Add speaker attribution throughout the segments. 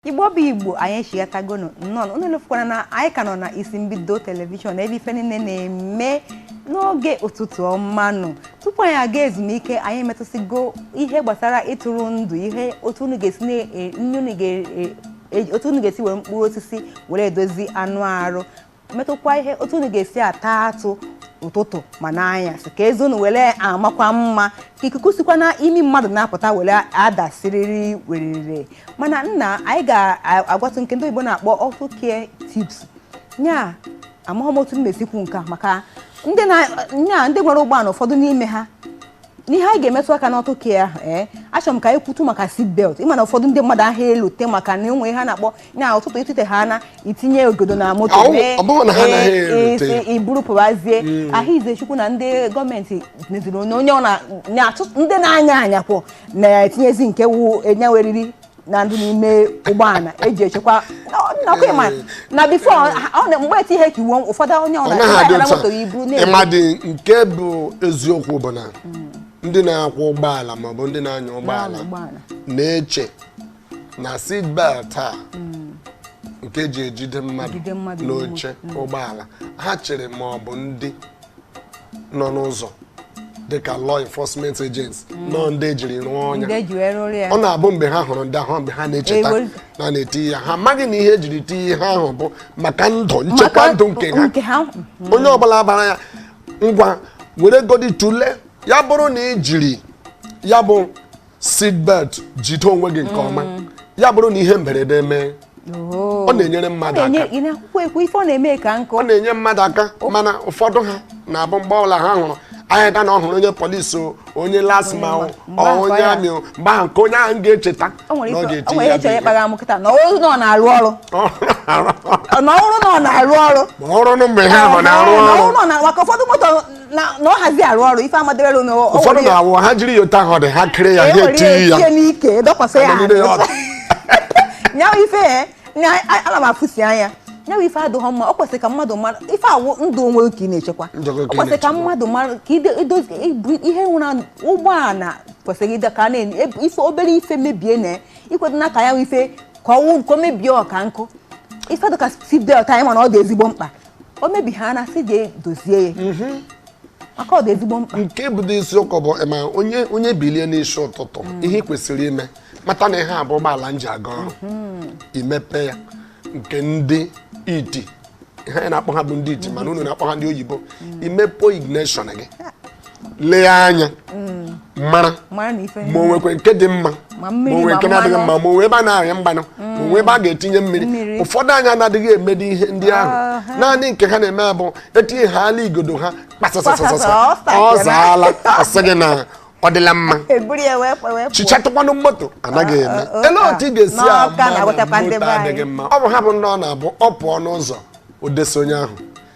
Speaker 1: igbo bụ igbo anyị echighatagonu nnọọ unu elefukwana na anyị ka nọ na isi mbido telivishọn ebe ife niile na-eme n'oge ụtụtụ ọma nụ tupu anyị aga ezumike anyị metụsịgo ihe gbasara ịtụrụ ndụ ihe otu unu ga-esi were mkpụrụ osisi were edozi anụ arụ metụkwa ihe otu unu ga-esi ata atụ ụtụtụ ma n'anyasị ka eze unu were amakwa mma ka ikuku sikwa n'ime mmadụ na-apụta were adị siriri werere mana nna anyị ga-agwatụ nke ndị oyibo na-akpọ auto care tips nya amaghị m otu m ma-esi kwuo nke a maka ndị na-anya ndị nwere ụgbọala ụfọdụ n'ime ha n'ihe anyị ga-emetụ aka n'auto care ahụ ee achọrọ m ka anyị kwutu maka seat belt ịma na ụfọdụ ndị mmadụ aha elote maka na mgbe ha na-apụ na ụtụtụ itete ha na itinye igodo na moto Ọ bụ- mee ọ bụrụ na ha anaghị ee, elote. isi iburu pụbazie ahụ izechukwu na ndị gọọmenti meziri onye onye ọ na- na-achụ ndị na-anya anya kwụ na-etinyezi nke wu enye weriri na ndị n'ime ụgbọala eji echekwa nakwa ịma na bifo mgbe eti ihe ka iwu ụfọdụ onye ọ ọ naghị adị na-adara otu moto ya iburu a. na-ebu mmadụ nke
Speaker 2: bụ eziokwu bụ na ndị na-akwọ ụgbọala maọbụ ndị na-anya ụgbọala ụgbọala na-eche na seat belt a nke e ji ejide mmadụ Ejide mmadụ n'oche ụgbọala ha chere ma ọ bụ ndị nọ n'ụzọ dịka law enforcement agents mm. na ọ ndị e jiri rụọ nya ọ na-abụ mgbe ha hụrụ ndị ahụ mgbe ha na-echeta na na-eti ya ha amaghị na ihe e jiri ti ihe ahụ bụ maka ndụ nchekwa ndụ nke ha mm. onye ọbụla bara ya ngwa were godi tule ya bụrụ na i jiri ya bụ seat belt jide onwe gị nke ọma mm. ya bụrụ na ihe mberede mee oh. ọ na-enyere mmadụ aka ọ na-enyere mmadụ aka oh. mana ụfọdụ ha na-abụ mgbe ọbụla ha hụrụ anyị ga na ọ hụrụ onye polisi o onye LASTMA o onye army o mgbe ahụ nke onye ahụ ga-echeta na ọ ga-eti ya bụ ihe na ọrụ na ọ na-arụ ọrụ na ọrụ na ọ na-arụ ọrụ ma ọrụ na mgbe ha nọ na-arụ ọrụ maka ụfọdụ moto
Speaker 1: na na ọ hazi arụ ọrụ ife amadewere na o ụfọdụ nwere ya- na-awụ
Speaker 2: ha jiri yota ha dị ha kere ya e ha nwere etinye ya ya etinye n'ike dọkwasị
Speaker 1: ya Anọgide ya azụ. nya wụ ife e, nya- a- ana m afụsi anya nya wụ ife adịghọ mma ọ kwesịrị ka mmadụ mara ife a wụ ndụ onwe ka ị na-echekwa Ndụ gị ọ ka ị kwesịrị ka na-echekwa. mmadụ mara ka ide- idozi ibu- ihe nwụrụ anwụ, ụgbọala kwesịrị ịdị ka a na-enye ebe- ife obere ife mebie na i kwedo n'aka ya ife ka ọ wụ nke o mebie ọka nkụ ife dịka seat belt ka anyị ma na ọ dị ezigbo mkpa o mebie ha na-asị jee dozie ya mhm. maka ọ dị ezigbo mkpa nke bụ dị isiokwu bụ
Speaker 2: ma onye onye bilie n'isi ụtụtụ mm. ihe ị kwesịrị ime mata na ihe a bụ ụgbọala m ji aga ọrụ mhm. imepe ya nke ndị iti ihe anyị na-akpọ ha bụ ndị iti mana unu na-akpọ ha ndị oyibo mm. imepe ignition gị lee anya mm. mara ma o nwekwe nke dị mma ma o nwee nke na-adịghị mma ma o nwee ebe a na-arịa mmanụ ma o nwee ebe a ga-etinye mmiri ụfọdụ anyị anaghị emedi ihe ndị ahụ naanị nke ha na-eme bụ e tinyehaala igodo ha kpasasasasasa ọ zaala ọ sị gị na ọ dịla mma chichatụkwanụ moto anaghị eme ele otu ị ga-esi ama moto adịghị mma ọ bụ ha bụ ndị ọ na-abụ ọ pụọ n'ụzọ o desi onye ahụ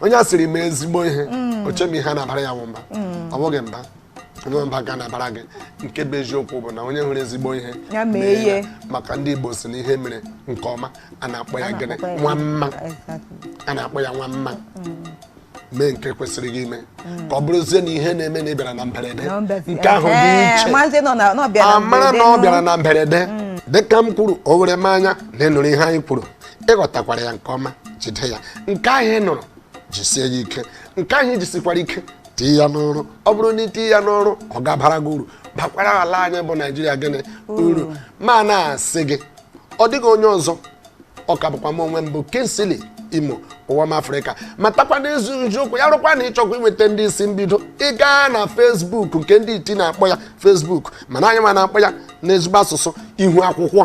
Speaker 2: onye a sịrị mee ezigbo ihe mm. o che m ihe a na-abara ya mba mm. ọ bụghị mba onye mba ga na-abara gị nke bụ eziokwu bụ na onye hụrụ ezigbo ihe mee maka ndị Igbo si na ihe mere nke ọma a na-akpọ ya gịnị nwa mma a na-akpọ ya nwa mma mee nke kwesịrị gị ime ka ọ bụrụzie na ihe na-emenụ bịara na mberede nke ahụ dị iche a mara na ọ bịara na mberede dịka m kwuru o were m anya na ị nụrụ ihe anyị kwuru ị ghọtakwara ya nke ọma jide ya nke ahụ ị nụrụ jisie ya ike nke ahụ i jisikwara ike tii ya n'ọrụ ọ bụrụ na i tinye ya n'ọrụ ọ ga-abara gị uru bakwara ala anyị bụ naijiria gịnị uru ma na-asị gị ọ dịghị onye ọzọ ọ ka bụkwa m onwe m bụ Kingsley Imo ụwa m afrịka matakwa n'ezi eziokwu ya rụkwa na ị chọkwa inweta ndị isi mbido ị gaa na Facebook nke ndị iti na-akpọ ya Facebook mana anyị nwa na-akpọ ya n'ezigbo asụsụ ihu akwụkwọ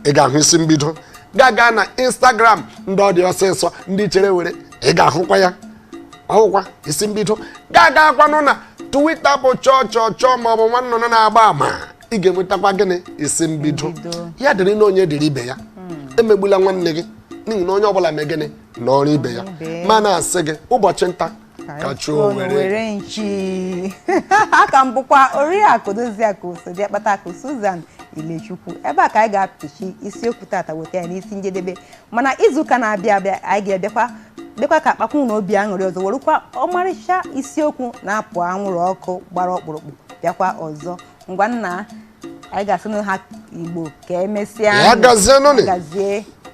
Speaker 2: ị ga-ahụ isi mbido gaa gaa na Instagram ndị ọ dị ọsịsọ ndị chere were ị ga-ahụkwa ya ọ wụkwa isi mbido gaa gaakwanụ na Twitter bụ chọọ chọọ chọọ ma ọ bụ nwa nnụnụ na-agba ama ị ga-enwetakwa gịnị isi mbido ya dịrị na onye dịrị ibe ya hmm. emegbula nwanne gị n'ihi na onye ọbụla mee gịnị nọrọ ibe ya ma na-asị gị ụbọchị nta ka a chụọ owere
Speaker 1: nchi a ka m bụkwa oriakụ doziakụ osodi akpata akụ Susan Ilechukwu ebe a ka anyị ga-apịchi isiokwu tata weta ya n'isi njedebe mana izuụka na-abịa abịa anyị ga-abịakwa bịakwa ka a kpakwu n'obi aṅụrị ọzọ werekwa ọmarịcha isiokwu na-apụ anwụrụ ọkụ gbara ọkpụrụkpụ bịakwa ọzọ ngwa nna anyị
Speaker 2: ga-asịnụ ọha
Speaker 1: Igbo ka emesịa Ya
Speaker 2: gazienụ
Speaker 1: nị. gazie